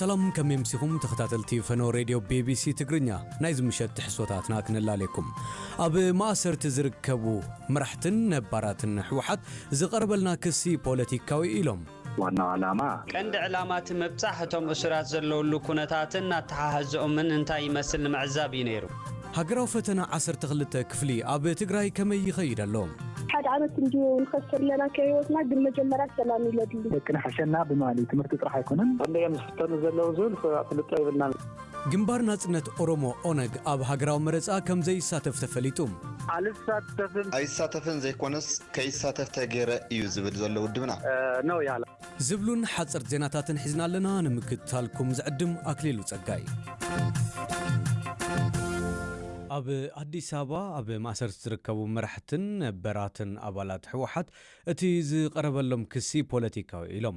ሰላም ከመይ ኣምሲኹም ተኸታተልቲ ፈነወ ሬድዮ ቢቢሲ ትግርኛ ናይዚ ምሸት ትሕዝቶታትና ክነላልየኩም ኣብ ማእሰርቲ ዝርከቡ መራሕትን ነባራትን ህወሓት ዝቐረበልና ክሲ ፖለቲካዊ ኢሎም ዋና ዕላማ። ቀንዲ ዕላማ እቲ ምብጻሕ እቶም እሱራት ዘለውሉ ኩነታትን ኣተሓሕዘኡምን እንታይ ይመስል ንምዕዛብ እዩ ነይሩ። ሃገራዊ ፈተና ዓሰርተ ክልተ ክፍሊ ኣብ ትግራይ ከመይ ይኸይድ ኣሎ? ሓደ ዓመት እንድዩ ንኸስር ኣለና ከህይወትና ግን መጀመርያ ሰላም እዩ ለድሊ። ደቅና ሕሸና ብማሊ ትምህርቲ ጥራሕ ኣይኮነን። ከመይ እዮም ዝፍተኑ ዘለው ዝብል ፍልጦ የብልናን። ግንባር ናጽነት ኦሮሞ፣ ኦነግ፣ ኣብ ሃገራዊ መረጻ ከም ዘይሳተፍ ተፈሊጡ። ኣልሳተፍን። ኣይሳተፍን ዘይኮነስ ከይሳተፍ ተገይረ እዩ ዝብል ዘሎ ውድብና። ነው ያለው። ዝብሉን ሓጸርቲ ዜናታትን ሒዝና ኣለና። ንምክትታልኩም ዝዕድም ኣክሊሉ ጸጋይ። ኣብ ኣዲስ ኣበባ ኣብ ማእሰርቲ ዝርከቡ መራሕትን ነበራትን ኣባላት ህወሓት እቲ ዝቐረበሎም ክሲ ፖለቲካዊ ኢሎም።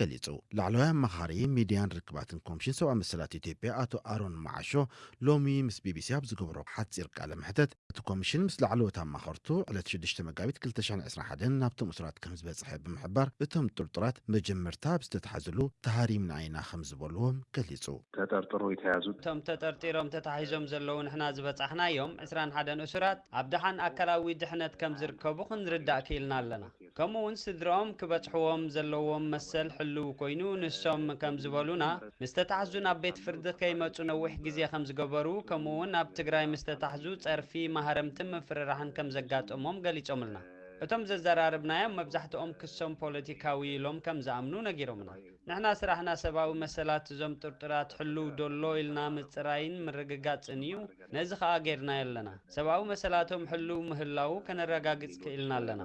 ገሊጹ። ላዕለዋይ ኣማኻሪ ሚድያን ርክባትን ኮምሽን ሰብኣዊ መሰላት ኢትዮጵያ ኣቶ ኣሮን መዓሾ ሎሚ ምስ ቢቢሲ ኣብ ዝገበሮ ሓጺር ቃለ መሕተት፣ እቲ ኮምሽን ምስ ላዕለዎት ኣማኸርቱ ዕለት ሽዱሽተ መጋቢት ክልተ ሽሕን ዕስራን ሓደን ናብቶም እሱራት ከምዝበጽሐ ብምሕባር እቶም ጥርጡራት መጀመርታ ኣብ ዝተታሕዝሉ ተሃሪምና ኢና ከምዝበሉዎም ገሊጹ። ተጠርጥሩ የተያዙት። እቶም ተጠርጢሮም ተታሒዞም ዘለዉ ንሕና ዝበጻሕናዮም ዕስራን ሓደን እሱራት ኣብ ደሓን ኣካላዊ ድሕነት ከምዝርከቡ ክንርዳእ ክኢልና ኣለና። ከምኡ ውን ስድርኦም ክበጽሕዎም ዘለዎም መሰል ሕልው ኮይኑ ንሶም ከም ዝበሉና ምስ ተታሕዙ ናብ ቤት ፍርዲ ከይመጹ ነዊሕ ግዜ ከም ዝገበሩ ከምኡ ውን ኣብ ትግራይ ምስ ተታሕዙ ጸርፊ፣ ማህረምትን ምፍርራሕን ከም ዘጋጠሞም ገሊጾምልና። እቶም ዘዘራረብናዮም መብዛሕትኦም ክሶም ፖለቲካዊ ኢሎም ከም ዝኣምኑ ነጊሮምና። ንሕና ስራሕና ሰብኣዊ መሰላት እዞም ጥርጡራት ሕሉው ዶ ኣሎ ኢልና ምጽራይን ምርግጋጽን እዩ፣ ነዚ ከኣ ጌርናዮ ኣለና። ሰብኣዊ መሰላቶም ሕሉው ምህላዉ ከነረጋግጽ ክኢልና ኣለና።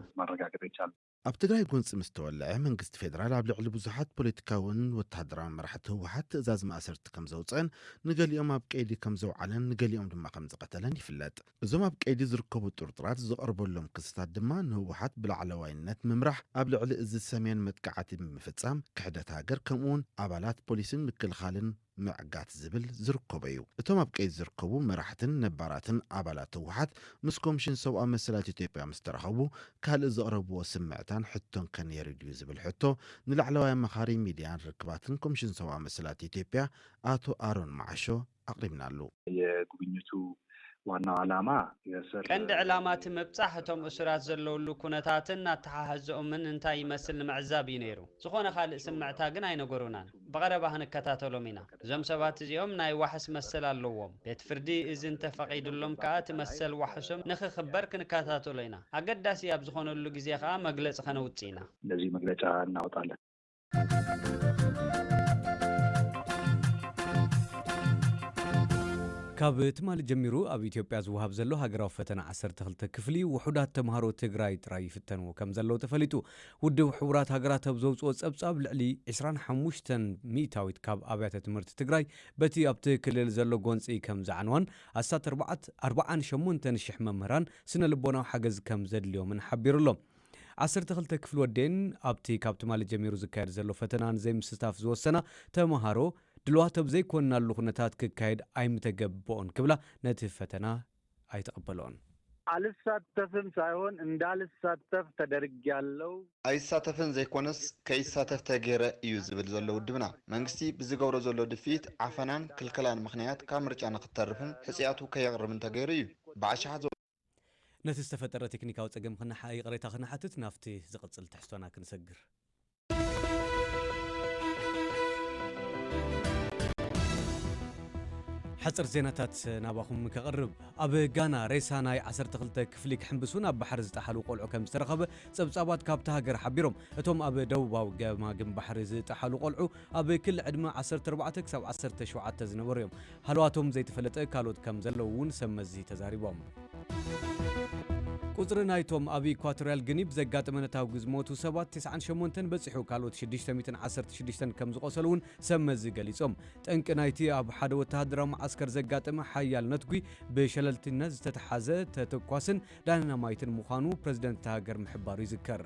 ኣብ ትግራይ ጎንፂ ምስ ተወልዐ መንግስቲ ፌደራል ኣብ ልዕሊ ብዙሓት ፖለቲካዊን ወተሃደራዊን መራሕቲ ህወሓት ትእዛዝ ማእሰርቲ ከምዘውፅእን ንገሊኦም ኣብ ቀይዲ ከምዘውዓለን ንገሊኦም ድማ ከምዝቐተለን ይፍለጥ። እዞም ኣብ ቀይዲ ዝርከቡ ጥርጡራት ዝቐርበሎም ክስታት ድማ ንህወሓት ብላዕለዋይነት ምምራሕ፣ ኣብ ልዕሊ እዚ ሰሜን መጥቃዕቲ ብምፍፃም፣ ክሕደት ሃገር ከምኡ'ውን ኣባላት ፖሊስን ምክልኻልን ምዕጋት ዝብል ዝርከቦ እዩ። እቶም ኣብ ቀይዲ ዝርከቡ መራሕትን ነባራትን ኣባላት ህወሓት ምስ ኮምሽን ሰብኣዊ መሰላት ኢትዮጵያ ምስ ተራኸቡ ካልእ ዘቕረብዎ ስምዕታን ሕቶን ከ ነይሩ ድዩ ዝብል ሕቶ ንላዕለዋይ ኣማኻሪ ሚድያን ርክባትን ኮምሽን ሰብኣዊ መሰላት ኢትዮጵያ ኣቶ ኣሮን መዓሾ ኣቕሪብናሉ። የጉብኝቱ ዋናው ዓላማ የእስር። ቀንዲ ዕላማ'ቲ ምብጻሕ እቶም እሱራት ዘለውሉ ኩነታትን ኣተሓሕዘኦምን እንታይ ይመስል ንምዕዛብ እዩ ነይሩ። ዝኾነ ካልእ ስምዕታ ግን ኣይነገሩናን። ብቐረባ ክንከታተሎም ኢና። እዞም ሰባት እዚኦም ናይ ዋሕስ መሰል ኣለዎም። ቤት ፍርዲ እዚ እንተ ፈቒዱሎም ከኣ እቲ መሰል ዋሕሶም ንኽኽበር ክንከታተሎ ኢና። ኣገዳሲ ኣብ ዝኾነሉ ግዜ ከኣ መግለጺ ከነውጽእ ኢና። ነዚ መግለጫ እናወጣለን ካብ ትማሊ ጀሚሩ ኣብ ኢትዮጵያ ዝወሃብ ዘሎ ሃገራዊ ፈተና ዓሰርተ ክልተ ክፍሊ ውሑዳት ተምሃሮ ትግራይ ጥራይ ይፍተንዎ ከም ዘለዉ ተፈሊጡ። ውድብ ሕቡራት ሃገራት ኣብ ዘውጽኦ ጸብጻብ ልዕሊ ዕስራን ሓሙሽተን ሚእታዊት ካብ ኣብያተ ትምህርቲ ትግራይ በቲ ኣብቲ ክልል ዘሎ ጎንጺ ከም ዝዓንዋን ኣስታት ኣርባዓን ሸሞንተን ሽሕ መምህራን ስነ ልቦናዊ ሓገዝ ከም ዘድልዮምን ሓቢሩ'ሎ። ዓሰርተ ክልተ ክፍሊ ወዴን ኣብቲ ካብ ትማሊ ጀሚሩ ዝካየድ ዘሎ ፈተና ንዘይምስታፍ ዝወሰና ተምሃሮ ድልዋት ኣብ ዘይኮናሉ ኩነታት ክካየድ ኣይምተገብኦን ክብላ ነቲ ፈተና ኣይተቐበለኦን። ኣልሳተፍን ሳይሆን እንዳልሳተፍ ተደርጊያለው። ኣይሳተፍን ዘይኮነስ ከይሳተፍ ተገይረ እዩ ዝብል ዘሎ ውድብና፣ መንግስቲ ብዝገብሮ ዘሎ ድፍኢት፣ ዓፈናን ክልከላን ምኽንያት ካብ ምርጫ ንክተርፍን ሕጽያቱ ከየቕርብን ተገይሩ እዩ ብኣሽሓት ነቲ ዝተፈጠረ ቴክኒካዊ ጸገም ክናሓ ይቕሬታ ክናሓትት ናብቲ ዝቕጽል ትሕዝቶና ክንሰግር። ሓጽር ዜናታት ናባኹም ከቕርብ። ኣብ ጋና ሬሳ ናይ ዓሰርተ ክልተ ክፍሊ ክሕምብሱ ናብ ባሕሪ ዝጠሓሉ ቆልዑ ከም ዝተረኸበ ጸብጻባት ካብታ ሃገር ሓቢሮም። እቶም ኣብ ደቡባዊ ገማግም ባሕሪ ዝጠሓሉ ቆልዑ ኣብ ክሊ ዕድመ ዓሰርተ ኣርባዕተ ክሳብ ዓሰርተ ሸውዓተ ዝነበሩ እዮም። ሃለዋቶም ዘይተፈለጠ ካልኦት ከም ዘለዉ እውን ሰብ መዚ ተዛሪቦም። ቁጽሪ ናይቶም ኣብ ኢኳቶርያል ግኒ ብዘጋጠመ ነታጒ ዝሞቱ ሰባት ተስዓን ሸሞንተን በጺሑ፣ ካልኦት ሽዱሽተ ሚእትን ዓሰርተ ሽዱሽተን ከም ዝቖሰሉ እውን ሰብ መዚ ገሊጾም። ጠንቂ ናይቲ ኣብ ሓደ ወተሃደራዊ መዓስከር ዘጋጠመ ሓያል ነትጒ ብሸለልተኝነት ዝተተሓዘ ተተኳስን ዳይናማይትን ምዃኑ ፕረዚደንት እታ ሃገር ምሕባሩ ይዝከር።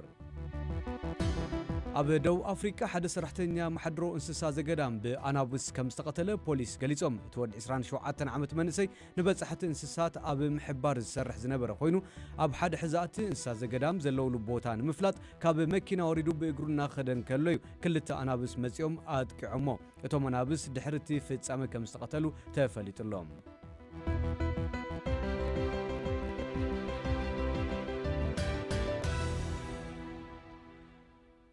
ኣብ ደቡብ ኣፍሪቃ ሓደ ሰራሕተኛ መሓድሮ እንስሳ ዘገዳም ብኣናብስ ከም ዝተቐተለ ፖሊስ ገሊጾም። እቲ ወዲ ዕስራን ሸውዓተን ዓመት መንእሰይ ንበጻሕቲ እንስሳት ኣብ ምሕባር ዝሰርሕ ዝነበረ ኮይኑ፣ ኣብ ሓደ ሕዛእቲ እንስሳ ዘገዳም ዘለውሉ ቦታ ንምፍላጥ ካብ መኪና ወሪዱ ብእግሩ እናኸደ እንከሎ'ዩ ክልተ ኣናብስ መጺኦም ኣጥቂዖሞ። እቶም ኣናብስ ድሕሪ እቲ ፍጻመ ከም ዝተቐተሉ ተፈሊጡ ኣሎ።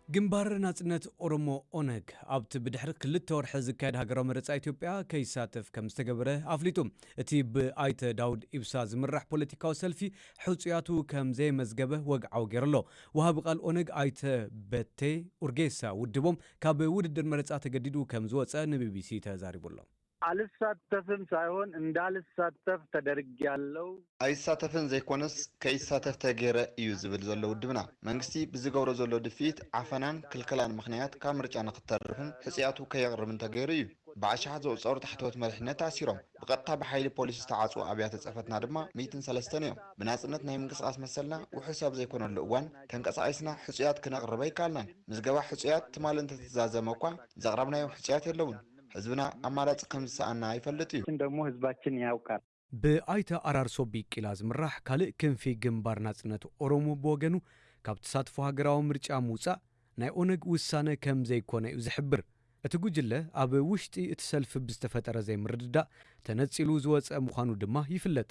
ግንባር ናጽነት ኦሮሞ፣ ኦነግ፣ ኣብቲ ብድሕሪ ክልተ ወርሒ ዝካየድ ሃገራዊ መረጻ ኢትዮጵያ ከይሳተፍ ከም ዝተገበረ ኣፍሊጡ። እቲ ብኣይተ ዳውድ ኢብሳ ዝምራሕ ፖለቲካዊ ሰልፊ ሕጹያቱ ከም ዘየመዝገበ ወግዓዊ ገይሩ ኣሎ። ወሃቢ ቃል ኦነግ ኣይተ በቴ ኡርጌሳ ውድቦም ካብ ውድድር መረጻ ተገዲዱ ከም ዝወጸ ንቢቢሲ ተዛሪቡ ኣሎ። ኣልሳተፍን ሳይሆን እንዳልሳተፍ ተደርጊያለው። ኣይሳተፍን ዘይኮነስ ከይሳተፍ ተገይረ እዩ ዝብል ዘሎ ውድብና። መንግስቲ ብዝገብሮ ዘሎ ድፍኢት፣ ዓፈናን ክልከላን ምኽንያት ካብ ምርጫ ንኽተርፍን ሕጹያቱ ከየቕርብን ተገይሩ እዩ። ብኣሽሓት ዝቑጸሩ ታሕተዎት መሪሕነት ተኣሲሮም። ብቐጥታ ብሓይሊ ፖሊስ ዝተዓጽዉ ኣብያተ ጽሕፈትና ድማ ሚእትን ሰለስተን እዮም። ብናጽነት ናይ ምንቅስቓስ መሰልና ውሑስ ኣብ ዘይኮነሉ እዋን፣ ተንቀሳቒስና ሕጹያት ክነቕርብ ኣይከኣልናን። ምዝገባ ሕጹያት ትማሊ እንተተዛዘመ'ኳ ዘቕረብናዮም ሕጹያት የለዉን። ህዝብና ኣማራጺ ከም ዝሰኣና ይፈልጥ'ዩ። ደሞ ህዝባችን ያውቃል። ብኣይተ ኣራርሶ ቢቂላ ዝምራሕ ካልእ ክንፊ ግንባር ናጽነት ኦሮሞ ብወገኑ ካብ ተሳትፎ ሃገራዊ ምርጫ ምውጻእ ናይ ኦነግ ውሳነ ከም ዘይኮነ'ዩ ዝሕብር። እቲ ጉጅለ ኣብ ውሽጢ እቲ ሰልፊ ብዝተፈጠረ ዘይምርድዳእ ተነጺሉ ዝወጸ ምዃኑ ድማ ይፍለጥ።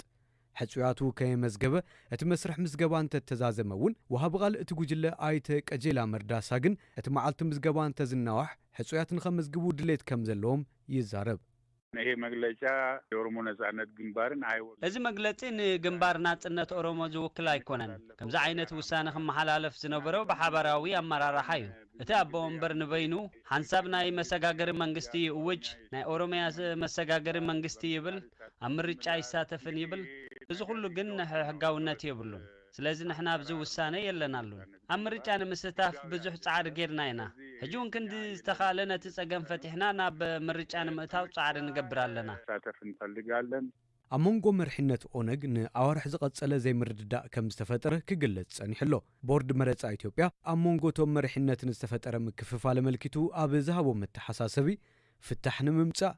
ሕጹያቱ ከየመዝገበ እቲ መስርሕ ምዝገባ እንተተዛዘመ እውን ወሃቢ ቃል እቲ ጉጅለ ኣይተ ቀጀላ መርዳሳ ግን እቲ መዓልቲ ምዝገባ እንተዝናዋሕ ሕጹያት ንኸመዝግቡ ድሌት ከምዘለዎም ይዛረብ። ይህ መግለጫ የኦሮሞ ነጻነት ግንባርን ኣይወክልን። እዚ መግለጺ ንግንባር ናጽነት ኦሮሞ ዝውክል ኣይኮነን። ከምዚ ዓይነት ውሳነ ክመሓላለፍ ዝነበሮ ብሓባራዊ ኣመራርሓ እዩ። እቲ ኣቦ ወንበር ንበይኑ ሓንሳብ ናይ መሰጋገሪ መንግስቲ ይእውጅ፣ ናይ ኦሮሚያ መሰጋገሪ መንግስቲ ይብል፣ ኣብ ምርጫ ኣይሳተፍን ይብል፣ እዚ ኩሉ ግን ሕጋውነት የብሉን። ስለዚ ንሕና ኣብዚ ውሳነ የለናሉን። ኣብ ምርጫ ንምስታፍ ብዙሕ ጻዕሪ ጌርና ኢና። ሕጂ ውን ክንዲ ዝተኻእለ ነቲ ጸገም ፈቲሕና ናብ ምርጫ ንምእታው ጻዕሪ ንገብር ኣለና። ክንሳተፍ ንፈልግ ኣለና። ኣብ መንጎ መሪሕነት ኦነግ ንኣዋርሕ ዝቐጸለ ዘይምርድዳእ ከም ዝተፈጥረ ክግለጽ ጸኒሑ ኣሎ። ቦርድ መረጻ ኢትዮጵያ ኣብ መንጎ እቶም መሪሕነት ንዝተፈጠረ ምክፍፋል ኣመልኪቱ ኣብ ዝሃቦ መተሓሳሰቢ፣ ፍታሕ ንምምጻእ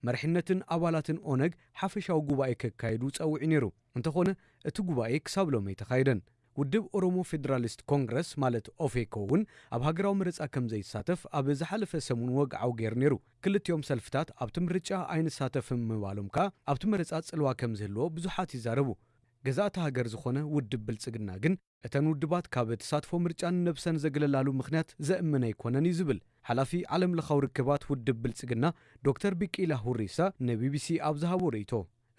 መሪሕነትን ኣባላትን ኦነግ ሓፈሻዊ ጉባኤ ከካይዱ ጸዊዑ ነይሩ። እንተኾነ እቲ ጉባኤ ክሳብ ሎሚ ኣይተኻየደን። ውድብ ኦሮሞ ፌደራሊስት ኮንግረስ ማለት ኦፌኮ እውን ኣብ ሃገራዊ መረጻ ከምዘይሳተፍ ኣብ ዝሓለፈ ሰሙን ወግዓዊ ገይሩ ነይሩ። ክልቲኦም ሰልፍታት ኣብቲ ምርጫ ኣይንሳተፍም ምባሎም ከኣ ኣብቲ መረጻ ጽልዋ ከምዝህልዎ ብዙሓት ይዛረቡ። ገዛእቲ ሃገር ዝኾነ ውድብ ብልጽግና ግን እተን ውድባት ካብ ተሳትፎ ምርጫ ንነብሰን ዘግለላሉ ምኽንያት ዘእምን ኣይኮነን እዩ ዝብል። ሓላፊ ዓለምለኻዊ ርክባት ውድብ ብልጽግና ዶክተር ቢቂላ ሁሪሳ ንቢቢሲ ኣብ ዝሃቦ ርእይቶ፣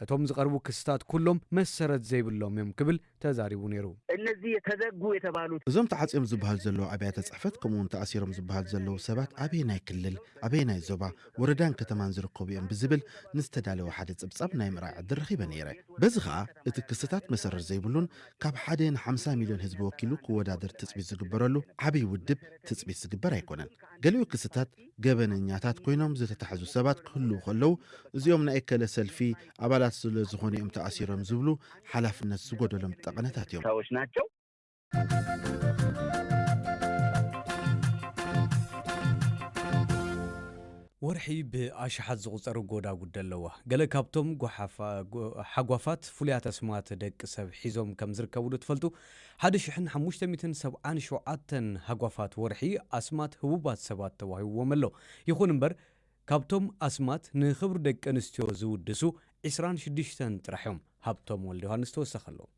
እቶም ዝቐርቡ ክስታት ኩሎም መሰረት ዘይብሎም እዮም ክብል ተዛሪቡ ነይሩ። እነዚህ የተዘጉ የተባሉት። እዞም ተዓጽዮም ዝበሃሉ ዘለዉ ኣብያተ ጽሕፈት ከምኡ'ውን ተኣሲሮም ዝበሃሉ ዘለዉ ሰባት ኣበየናይ ክልል፣ ኣበየናይ ዞባ፣ ወረዳን ከተማን ዝርከቡ እዮም ብዝብል ንዝተዳለወ ሓደ ጸብጻብ ናይ ምርኣይ ዕድል ረኺበ ነይረ። በዚ ከኣ እቲ ክስታት መሰረት ዘይብሉን ካብ ሓደ ንሓምሳ ሚልዮን ህዝቢ ወኪሉ ክወዳደር ትጽቢት ዝግበረሉ ዓብይ ውድብ ትጽቢት ዝግበር ኣይኮነን። ገሊኡ ክስታት። ገበነኛታት ኮይኖም ዝተታሕዙ ሰባት ክህልዉ ከለዉ እዚኦም ናይ እከለ ሰልፊ ኣባላት ስለ ዝኾኑ እዮም ተኣሲሮም ዝብሉ ሓላፍነት ዝጎደሎም ጠቐነታት እዮም። ሰዎች ናቸው። ወርሒ ብኣሽሓት ዝቑጸሩ ጎዳጉዲ ኣለዋ። ገለ ካብቶም ሓጓፋት ፍሉያት ኣስማት ደቂ ሰብ ሒዞም ከም ዝርከቡ'ዶ ትፈልጡ? ሓደ ሽሕን ሓሙሽተ ሚእትን ሰብዓን ሸውዓተን ሃጓፋት ወርሒ ኣስማት ህቡባት ሰባት ተዋሂብዎም ኣሎ። ይኹን እምበር ካብቶም ኣስማት ንኽብሪ ደቂ ኣንስትዮ ዝውድሱ ዕስራን ሽዱሽተን ጥራሕ እዮም። ሃብቶም ወልደዮሃንስ ተወሰኸሎም።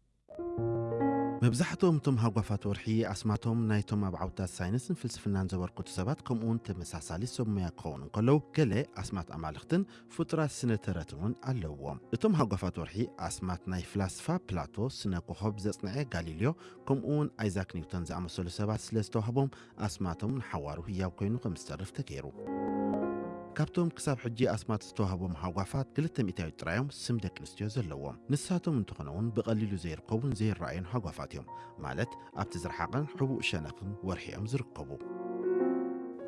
መብዛሕትኦም እቶም ሃጓፋት ወርሒ ኣስማቶም ናይቶም ኣብ ዓውድታት ሳይንስን ፍልስፍናን ዘበርከቱ ሰባት ከምኡ'ውን ተመሳሳሊ ሰብ ሞያ ክኾኑ እንከለው ገለ ኣስማት ኣማልኽትን ፍጡራት ስነ-ተረት እውን ኣለዎም። እቶም ሃጓፋት ወርሒ ኣስማት ናይ ፍላስፋ ፕላቶ፣ ስነ-ኮኾብ ዘጽንዐ ጋሊልዮ፣ ከምኡውን ኣይዛክ ኒውቶን ዝኣመሰሉ ሰባት ስለ ዝተዋህቦም ኣስማቶም ንሓዋሩ ህያው ኮይኑ ከም ዝተርፍ ተገይሩ። ካብቶም ክሳብ ሕጂ ኣስማት ዝተዋህቦም ሃጓፋት ክልተ ሚእታዊት ጥራይ እዮም ስም ደቂ ኣንስትዮ ዘለዎም። ንሳቶም እንተኾነ እውን ብቐሊሉ ዘይርከቡን ዘይረኣዩን ሃጓፋት እዮም። ማለት ኣብቲ ዝረሓቐ ሕቡእ ሸነኽ ወርሒ እዮም ዝርከቡ።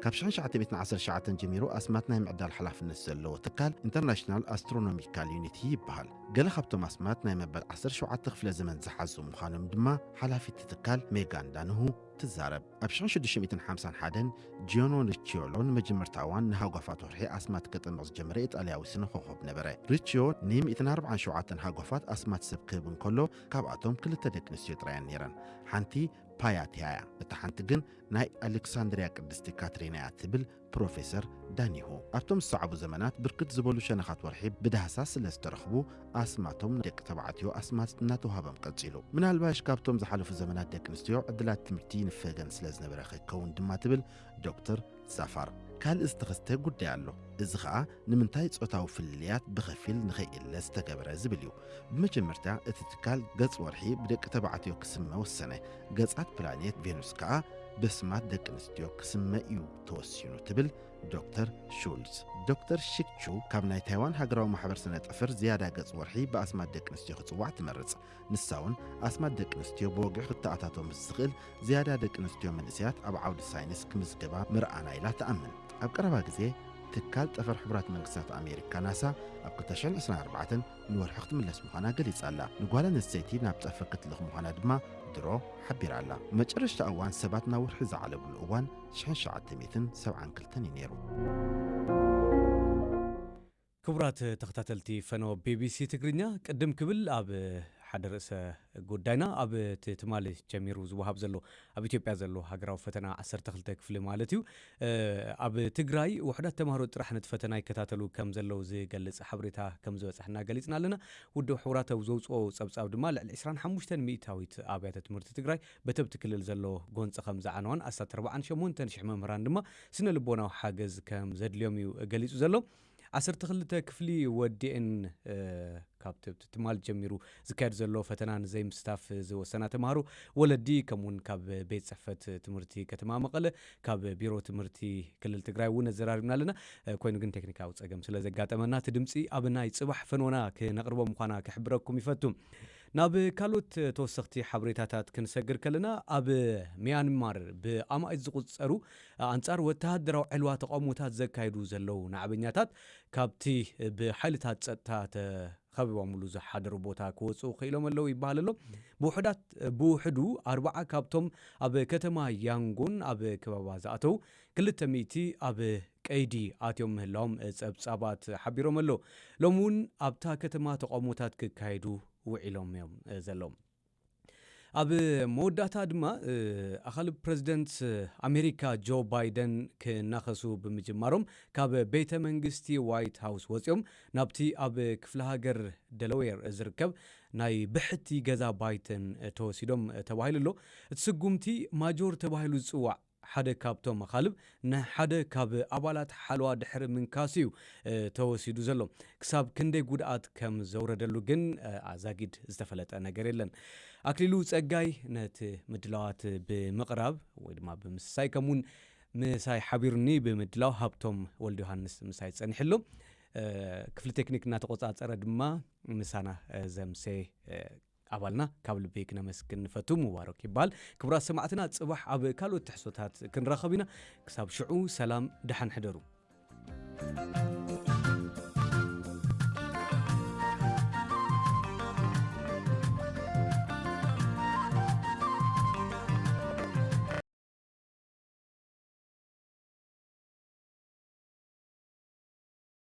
ካብ ሽሕን ሸዓተ ሚእትን ዓሰርተ ሸዓተን ጀሚሩ ኣስማት ናይ ምዕዳል ሓላፍነት ዘለዎ ትካል ኢንተርናሽናል ኣስትሮኖሚካል ዩኒቲ ይበሃል። ገለ ካብቶም ኣስማት ናይ መበል ዓሰርተ ሸውዓተ ክፍለ ዘመን ዝሓዙ ምዃኖም ድማ ሓላፊት እቲ ትካል ሜጋን ዳንሁ ትዛረብ። ኣብ ሽሕን ሽዱሽተ ሚእትን ሓምሳን ሓደን ጂዮኖ ሪቺዮሎ ንመጀመርታ እዋን ንሃጓፋት ወርሒ ኣስማት ከጠምቕ ዝጀመረ ኢጣልያዊ ስነ ኮኾብ ነበረ። ሪቺዮ ንሚእትን ኣርብዓን ሸውዓተን ሃጓፋት ኣስማት ሰብ ክህብ እንከሎ ካብኣቶም ክልተ ደቂ ኣንስትዮ ጥራየን ነይረን። ሓንቲ ፓያቲያ እያ፣ እታ ሓንቲ ግን ናይ ኣሌክሳንድርያ ቅድስቲ ካትሪና እያ ትብል ፕሮፌሰር ዳኒሆ። ኣብቶም ዝሰዓቡ ዘመናት ብርክት ዝበሉ ሸነኻት ወርሒ ብዳህሳስ ስለ ዝተረኽቡ ኣስማቶም ንደቂ ተባዕትዮ ኣስማት እናተውሃበም ቀጺሉ። ምናልባሽ ካብቶም ዝሓለፉ ዘመናት ደቂ ኣንስትዮ ዕድላት ትምህርቲ ይንፈገን ስለ ዝነበረ ከይከውን ድማ ትብል ዶክተር ሳፋር፣ ካልእ ዝተኸስተ ጉዳይ ኣሎ፣ እዚ ኸኣ ንምንታይ ጾታዊ ፍልልያት ብኸፊል ንኸይእለ ዝተገበረ ዝብል እዩ። ብመጀመርታ እቲ ትካል ገጽ ወርሒ ብደቂ ተባዕትዮ ክስመ ወሰነ፣ ገጻት ፕላኔት ቬኑስ ከኣ በስማት ደቂ ኣንስትዮ ክስመ እዩ ተወሲኑ ትብል ዶክተር ሹልዝ። ዶክተር ሺክ ቹ ካብ ናይ ታይዋን ሃገራዊ ማሕበር ስነ-ጥፍር ዝያዳ ገጽ ወርሒ ብኣስማት ደቂ ኣንስትዮ ክጽዋዕ ትመርጽ። ንሳውን ኣስማት ደቂ ኣንስትዮ ብወግዒ ክተኣታቶ ምስ ዝኽእል ዝያዳ ደቂ ኣንስትዮ መንእሰያት ኣብ ዓውዲ ሳይንስ ክምዝገባ ምርኣና ኢላ ትኣምን። ኣብ ቀረባ ግዜ ትካል ጠፈር ሕቡራት መንግስታት ኣሜሪካ፣ ናሳ፣ ኣብ ክልተ ሽሕን ዕስራን ኣርባዕተን ንወርሒ ክትምለስ ምዃና ገሊጻ ኣላ። ንጓል ኣንስተይቲ ናብ ጠፈር ክትልእኽ ምዃና ድማ ድሮ ሓቢራ ኣላ። ንመጨረሽታ እዋን ሰባት ናብ ወርሒ ዝዓለብሉ እዋን ሽሕን ሸውዓተ ሚእትን ሰብዓን ክልተን እዩ ነይሩ። ክቡራት ተኸታተልቲ ፈነወ ቢቢሲ ትግርኛ፣ ቅድም ክብል ኣብ ሓደ ርእሰ ጉዳይና ኣብ እቲ ትማሊ ጀሚሩ ዝወሃብ ዘሎ ኣብ ኢትዮጵያ ዘሎ ሃገራዊ ፈተና ዓሰርተ ክልተ ክፍሊ ማለት እዩ ኣብ ትግራይ ውሑዳት ተማሃሮ ጥራሕ ነቲ ፈተና ይከታተሉ ከም ዘለው ዝገልጽ ሓበሬታ ከም ዝበጽሐና ገሊጽና ኣለና። ውድብ ሕቡራት ኣብ ዘውጽኦ ጸብጻብ ድማ ልዕሊ ዕስራን ሓሙሽተን ሚእታዊት ኣብያተ ትምህርቲ ትግራይ በተብቲ ክልል ዘሎ ጎንጺ ከም ዝዓነዋን ኣስታት ኣርብዓን ሸሞንተን ሽሕ መምህራን ድማ ስነ ልቦናዊ ሓገዝ ከም ዘድልዮም እዩ ገሊጹ ዘሎ። ዓሰርተ ክልተ ክፍሊ ወዲኤን ካብቲ ኣብቲ ትማል ጀሚሩ ዝካየድ ዘሎ ፈተና ንዘይምስታፍ ዝወሰና ተምሃሮ ወለዲ ከምኡ እውን ካብ ቤት ፅሕፈት ትምህርቲ ከተማ መቐለ ካብ ቢሮ ትምህርቲ ክልል ትግራይ እውን ኣዘራሪብና ኣለና ኮይኑ ግን ቴክኒካዊ ፀገም ስለ ዘጋጠመና እቲ ድምፂ ኣብ ናይ ፅባሕ ፈንወና ክነቕርቦ ምዃና ክሕብረኩም ይፈቱ ናብ ካልኦት ተወሰኽቲ ሓበሬታታት ክንሰግር ከለና ኣብ ሚያንማር ብኣማኢት ዝቑፀሩ ኣንጻር ወተሃደራዊ ዕልዋ ተቓውሞታት ዘካይዱ ዘለዉ ናዕበኛታት ካብቲ ብሓይልታት ጸጥታ ተኸቢቦምሉ ዝሓደሩ ቦታ ክወጽኡ ክኢሎም ኣለዉ ይበሃል ኣሎ። ብውሑዳት ብውሕዱ ኣርባዓ ካብቶም ኣብ ከተማ ያንጎን ኣብ ከባባ ዝኣተዉ ክልተ ሚእቲ ኣብ ቀይዲ ኣትዮም ምህላዎም ጸብጻባት ሓቢሮም ኣለዉ። ሎሚ እውን ኣብታ ከተማ ተቓውሞታት ክካየዱ ውዒሎም'ዮም ዘለዉ። ኣብ መወዳእታ ድማ ኣኻልብ ፕረዚደንት ኣሜሪካ ጆ ባይደን ክናኸሱ ብምጅማሮም ካብ ቤተ መንግስቲ ዋይት ሃውስ ወፂኦም ናብቲ ኣብ ክፍለ ሃገር ደለዌር ዝርከብ ናይ ብሕቲ ገዛ ባይተን ተወሲዶም ተባሂሉ ኣሎ። እቲ ስጉምቲ ማጆር ተባሂሉ ዝፅዋዕ ሓደ ካብቶም ኣኻልብ ንሓደ ካብ ኣባላት ሓለዋ ድሕሪ ምንካሱ'ዩ ተወሲዱ ዘሎ። ክሳብ ክንደይ ጉድኣት ከም ዘውረደሉ ግን ኣዛጊድ ዝተፈለጠ ነገር የለን። ኣክሊሉ ጸጋይ ነቲ ምድላዋት ብምቕራብ ወይ ድማ ብምስሳይ ከምኡ'ውን ምሳይ ሓቢሩኒ ብምድላው ሃብቶም ወልደዮሃንስ ምሳይ ጸኒሑ ኣሎ። ክፍሊ ቴክኒክ እናተቖጻጸረ ድማ ምሳና ዘምሰ ኣባልና ካብ ልቢ ክነመስግን ንፈቱ ሙባሮክ ይባል ክቡራት ሰማዕትና ጽባሕ ኣብ ካልኦት ትሕዝቶታት ክንራኸብ ኢና ክሳብ ሽዑ ሰላም ደሓን ሕደሩ።